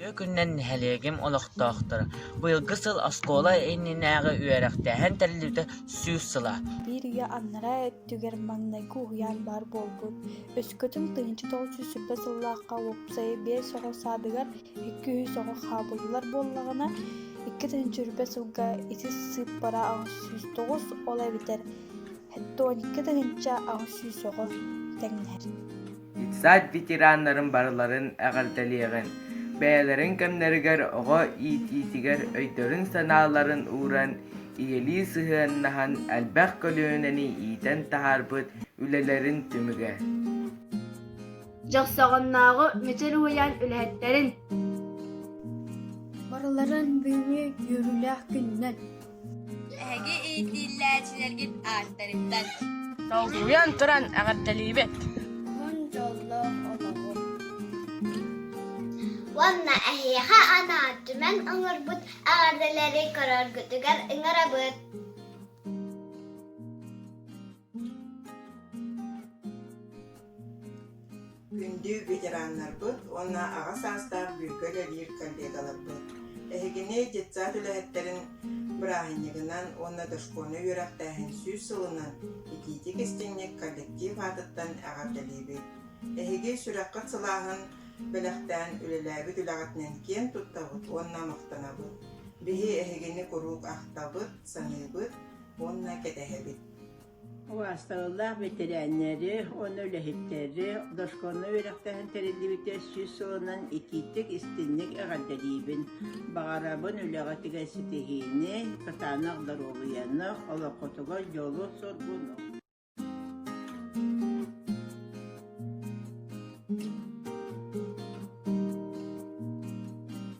Тыа күнүнэн нэһилиэгим олохтоохторо быйылгы сыл оскуола иннинээҕи үөрэхтээһин тэриллибитэ сүүс сыла. Биир үйэ аннараа өттүгэр маҥнайгы уһуйаан баар буолбут. Өскөтүн тыһыынча тоҕус жүз сүүспэ сыллаахха уопсайа биэс оҕо саадыгар икки үһүс оҕо хаабыллар буоллаҕына, икки тыһыынча сүүспэ сылга ити сыыппара аҕыс сүүс тоҕус, ол эбэтэр Тоникка тыһыынча аҕыс сүүс оҕо тэҥнэһэр Ипсаат ветераннарын барыларын эҕэрдэлиэҕин, бэйэлэрин кэмнэригэр оҕо иитиитигэр өйдөрүн-санааларын ууран, ийэлии сыһыаннаһан элбэх көлүөнэни иитэн таһаарбыт үлэлэрин түмүгэ. Дьохсоҕоннооҕу Мүчэр уйаан үлэһиттэрин барыларын бүгүҥҥү үөрүүлээх күнүнэн Эһиги иитиилээччилэргит ааттарыттан Долгуйан туран эҕэрдэлиибит! Уон дьоллоох олоҕу! Уонна эһиэхэ анаан түмэн оҥорбут эҕэрдэлэри көрөргүтүгэр ыҥырабыт! Күндү ветераннарбыт уонна аҕа саастаах бүлкэ үлэлиир коллегаларбыт! Эһигини детсад үлэһиттэрин бырааһынньыгынан уонна дошкольнай үөрэхтээһин сүүс сылынан итиитик-истиҥник коллектив аатыттан эҕэрдэлиибит! Эһиги сүрэххит сылааһын бэлэхтээн үлэлээбит үлэҕитинэн киэн туттабыт уонна махтанабыт! Биһи эһигини куруук ахтабыт, саныыбыт уонна кэтэһэбит! Убаастабыллаах бэтэрээннэри уонна үлэһиттэри дошкольнай үөрэхтэһэн тэриллибитэ сүүс сылынан итиитик-истинник эҕэрдэлиибин! Баҕарабын үлэҕитигэр ситиһиини, кытаанах доруобуйаны, олоххутугар дьолу-соргуну!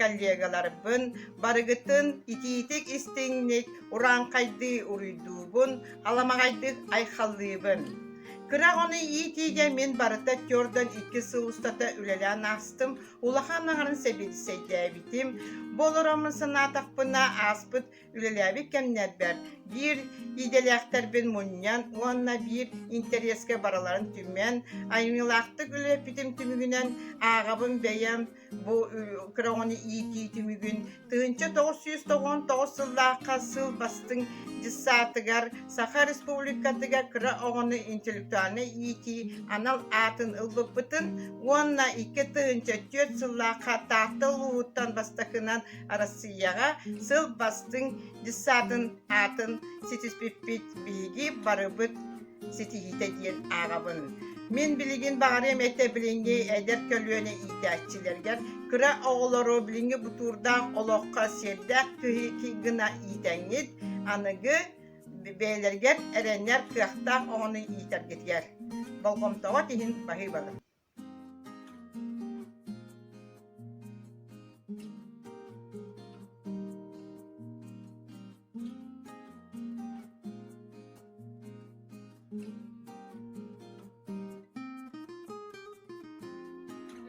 коллегаларбын барыгытын итиитик-истиҥник, урааҥхайдыы уруйдуубун, аламаҕайдык айхаллыыбын. Кыра оҕону иитиигэ мин барыта түөртэн икки сыл устата үлэлээн аастым, улахан аҕарын сэбиэдиссэйдээбитим. Бу олорон санаатахпына ааспыт Үлэлээбит кэмнэрбэр биир идэлээхтэрбин мунньан уонна биир интэриэскэ барыларын түмэн, айымньылаахтык үлэлэппитим түмүгүнэн ааҕабын бэйэм бу кыраҕыны иитии түмүгүн тыһыынча тоҕус сүүс тоҕуон тоҕус сыллаахха сыл бастыҥ дьыссаатыгар Саха Республикатыгар кыра оҕону интеллектуальнай иитии анал аатын ылбыппытын уонна икки тыһыынча түөрт сыллаахха Таатта улууһуттан бастакынан Арассыыйаҕа сыл бастыҥ десантын аатын ситиспиппит биһиги барыбыт ситиһиитэ диэн ааҕабын. Мин билигин баҕарыам этэ билиҥҥи эдэр көлүөнэ иитээччилэригэр кыра оҕолору билиҥҥи бутуурдаах олоххо сиэрдээх киһи гына иитэҥҥит, аныгы бэйэлэригэр эрэнэр кыахтаах оҕону иитэргитигэр болҕомтоҕут иһин баһыыбалар.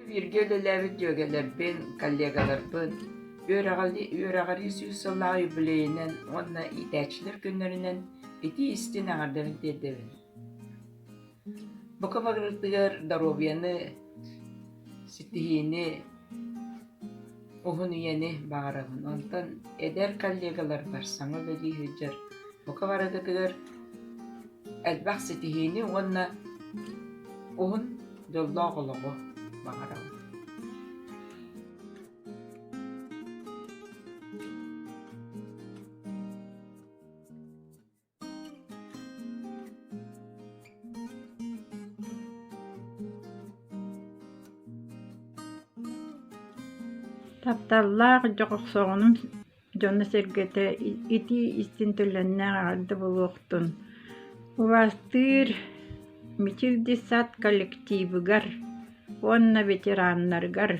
бииргэ үлэлээбит дьүөгэлэрбин, коллегаларбын үөрэҕирии сүүс сыллаах юбилейынан уонна иитээччилэр күннэринэн итии-истин аҥардарын тиэрдэбин Бука барыытыгар доруобуйаны, ситиһиини, уһун үйэни баҕарабын. Онтон эдэр коллегаларбар саҥа үлэлии сылдьар бука барыгытыгар элбэх ситиһиини уонна уһун дьоллоох олоҕу баҕарабын. Тапталлаах дьох охсоҕунум дьоно-сэргэтэ итии истин төлөннөөх эҕэрдэ булуохтун! Убастыыр Мичилди сад коллективыгар уонна ветераннаргар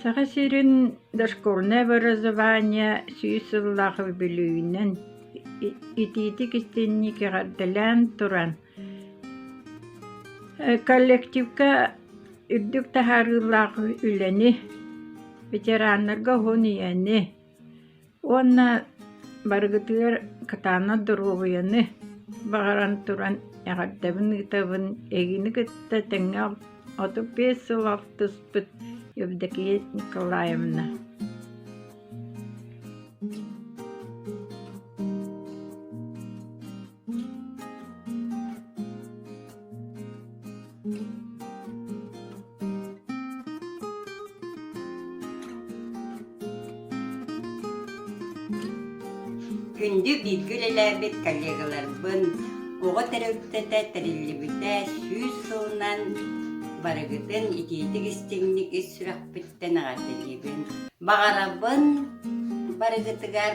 Саха сирин дошкольное образование сүүс сыллаах үбүлүйүүнэн итиитик-истинник эҕэрдэлээн туран, коллективка үрдүк таһаарыылаах үлэни, ветераннарга уһун ийэни, Уонна барыгытыгар кытаанах доруобуйаны баҕаран туран эҕэрдэбин-ыытабын эйигини кытта тэҥҥэ отут биэс сыл алтыспыт Евдокия Николаевна Күндү бииргэ үлэлээбит коллегаларбын оҕо төрөппүтэ тэриллибитэ сүүс сылынан барыгытын итиитик истиҥник ис сүрэхпиттэн эҕэрдэлиибин. Баҕарабын барыгытыгар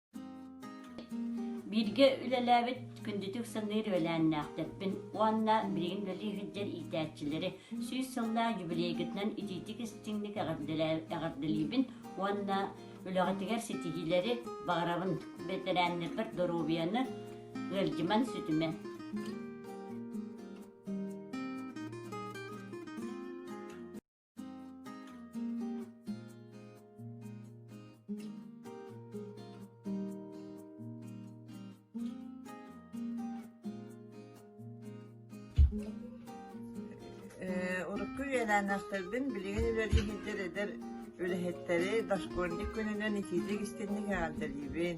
Бииргэ үлэлээбит күндүтүк саныыр үөлээннээхтэрбин уонна билигин үлэлии сылдьар иитээччилэри сүүс сыллаах юбилейгытынан итиитик-истиҥник эҕэрдэлиибин уонна үлэҕитигэр ситиһиилэри баҕарабын. Бэтэрээннэрбэр доруобуйаны, ыалдьыман сүтүмэн. урукку үөлээннээхтэрбин билигин үлэлиһиллэр эдэр үлэһиттэри дошкольник күнүнэн итиитик истинник эҕэрдэлиибин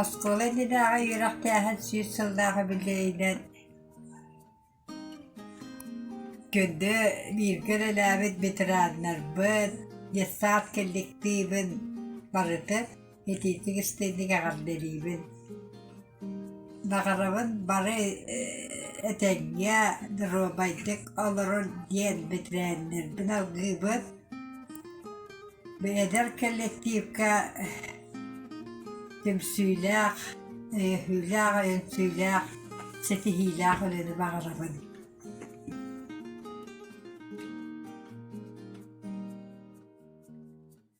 Оскуола иннинээҕи үөрэхтээһин сүүс сыллаах үбүлүөйүнэн көннө бииргэ үлэлээбит ветераннарбыт, детсад коллективын барытын итиитик истинник эҕэрдэлиибин! Баҕарабын бары этэҥҥэ доруобайдык олорон диэн бэтэрээннэрбин алгыыбын. Эдэр коллективка түмсүүлээх, өйөһүүлээх, өнсүүлээх, ситиһиилээх ырыаны баҕарабын.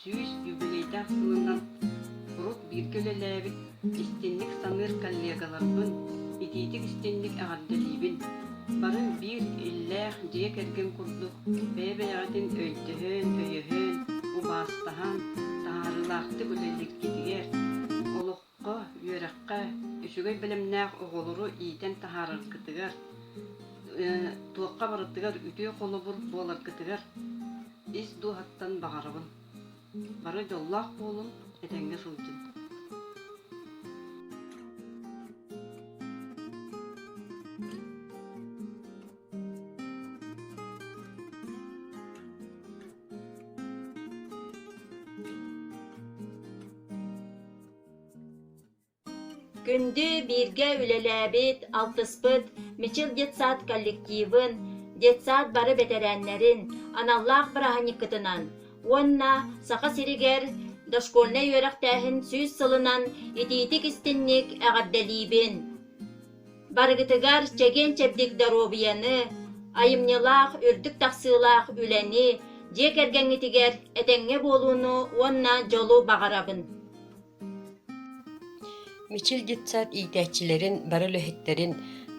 сүүс юбилейдаах сылынан куруук бииргэ үлэлээбит, истинник саныыр коллегаларбын, итиитик истинник эҕэрдэлиибин! Бары биир иллээх дьиэ кэргэн курдук бэйэ-бэйэҕитин өйдөһөн, өйөһөн, убаастаһан, таһаарыылаахтык үлэлииргитигэр, олох Го, үөрэххэ, үчүгэй бэлэмнээх оҕолору иитэн таһаараргытыгар, туохха барытыгар үтүө холобур буоларгытыгар ис дууһаттан баҕарабын. Бары дьоллоох буолун, этэҥҥэ сылдьын. Күндү бииргэ үлэлээбит, алтыспыт Мичил детсад коллективын, детсад бары бэтэрээннэрин аналлаах бырааһынньыккытынан уонна Саха сиригэр дошкольнай үөрэхтээһин сүүс сылынан итиитик-истинник эҕэрдэлиибин! Барыгытыгар чэгиэн-чэбдик доруобуйаны, айымньылаах, үрдүк тахсыылаах үлэни, дьиэ кэргэҥҥитигэр этэҥҥэ буолууну уонна дьолу баҕарабын! Мичил детсад иитээччилэрин бары үлэһиттэрин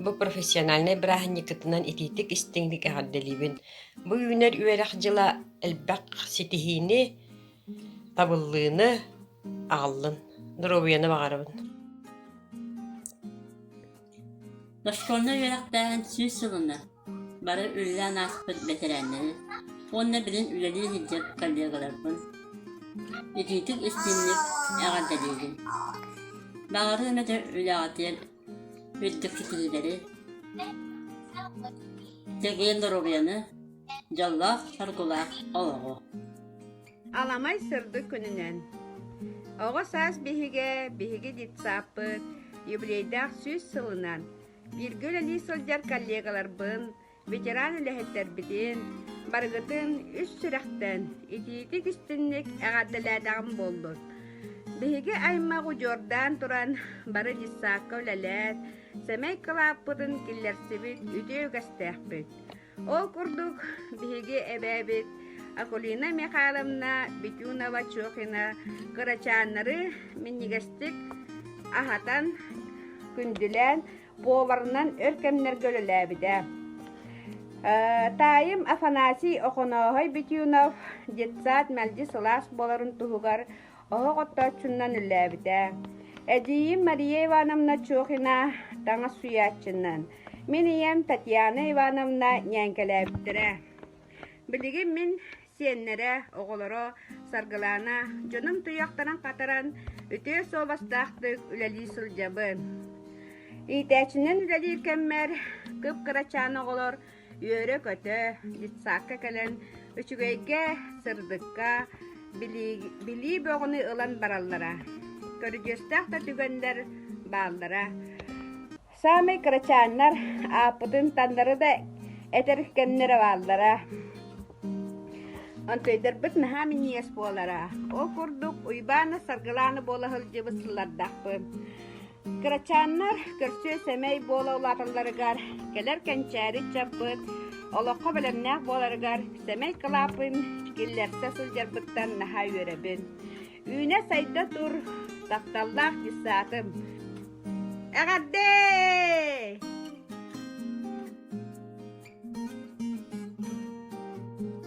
бу профессиональнай бырааһынньыккытынан итиитик истиҥник эҕэрдэлиибин! Бу үүнэр үөрэх дьыла элбэх ситиһиини, табыллыыны аҕаллын доруобуйаны баҕарабын Оскуоланы үөрэхтээһин сүүс сылына бары үлэлээн ааспыт бэтэрээннэри уонна билин үлэлии сылдьар коллегаларбын итиитик истинник эҕэрдэлиибин. Баҕарыым этэ үлэҕитигэр Өттүкситиилэри, чэгиэн доруобуйаны, дьоллоох соргулаах олоҕу. Аламай сырдык күнүнэн Оҕо саас биһигэ биһиги детсааппыт юбилейдаах сүүс сылынан бииргэ үлэлии сылдьар коллегаларбын ветеран үлэһиттэрбитин барыгытын үс сүрэхтэн итиитик истинник эҕэрдэлээтэҕим буоллун. Биһиги аймах удьуордаан туран бары дьыссаакка үлэлээт, сэмэй кылааппытын киллэрсибит үтүө үгэстээхпит. Ол курдук биһиги эбээбит Акулина Михайловна Битюнова-Чохина кырачааннары минньигэстик аһатан, күндүлээн буоларынан өр кэмнэргэ үлэлээбитэ. Таайым Афанасий Охонооһой Битюнов детсад мэлдьи сылаас буоларын туһугар оһох оттооччунан үллээбитэ. Эдьиийим Мария Ивановна Чохина таҥас суйааччынан, мин ийэм Татьяна Ивановна ньээҥкэлээбиттэрэ. Билигин мин сиэннэрэ, оҕолоро Саргылаана дьонум туйахтарын хатаран, үтүө суобастаахтык үлэлии сылдьабын. Иитээччинэн үлэлиир кэммэр кып-кырачаан оҕолор үөрэ-көтө детсадка кэлэн үчүгэйгэ, сырдыкка, билии, билии бөҕүнү ылан бараллара. Көрүдьүөстээх да түгэннэр бааллара. Саамай кырачааннар ааппытын таннары да этэр кэмнэрэ бааллара. Онтойдарбыт наһаа миниэс буолара. Ол курдук Уйбаана Саргылаана буола сылдьыбыт сыллардахпын. Кырачааннар көрсүө сэмэй буола улааталларыгар, кэлэр кэнчээри чаппыт, олоххо бэлэмнээх буоларыгар сэмэй кылааппын киллэрсэ сылдьарбыттан наһаа үөрэбин. Үүнэ-сайда тур тахталлаах дьыссаатым. Эҕэрдэ!